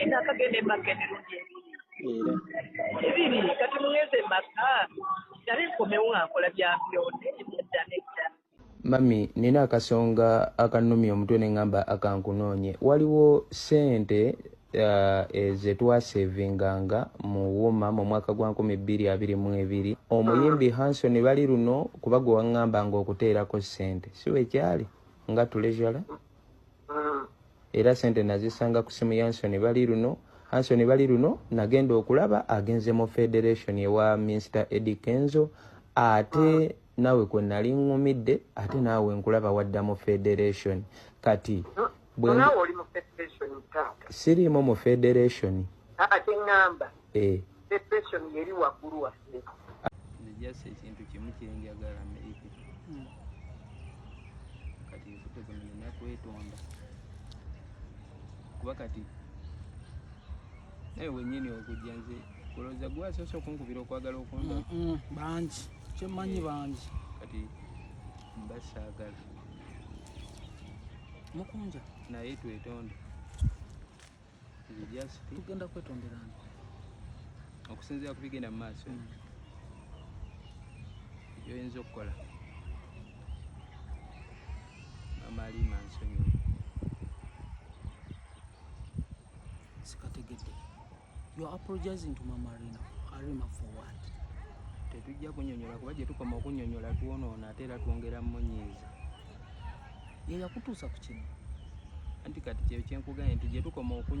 Era akagenda emaka emirundi ebiri ebiri kati mugeze emaka nale nkomewo nga nkola bya byonde ebyadda nedda mami nina akasonga akanumya omutwe ne ŋŋamba akankunoonye waliwo ssente uh, zetwasevinganga mu woma mu mwaka gwa nkumi bbiri abiri mu ebiri omuyimbi ah. hanson bali luno kuba gwe waŋŋambanga okuteerako ssente si wekyali nga tulejala mm. era sente nazisanga ku simu yansoni bali luno ansoni bali luno nagenda okulaba agenze mu federation ewa minster edi kenzo ate mm. nawe kwe nali ŋumidde ate naawe nkulaba wadda mu federation kati siriimu mu federation ate ŋamba eh. Depression yeri waggulu waffe. Just ekintu kimu kyenjagala Amerika. Hmm. Kati nfute kuno nina kwetonda. Kuba kati naye wenyini okujja nze kulowooza gwe asoose okunkubira okwagala okunda bangi kyemmanyi bangi kati mba saagala mukunja naye twetonda tugenda kwetondera nti okusinzira ku bigenda mu maaso hmm. byoyinza okukola amaali mansonyi sikategedde you are apologizing to mama arena arima for what tetujja kunyonyola kuba gyetukoma okunyonyola twonoona ate era twongera munyiiza yeyakutuusa ku kino anti kati kyeyo kyenkugambye nti gyetukoma okunywa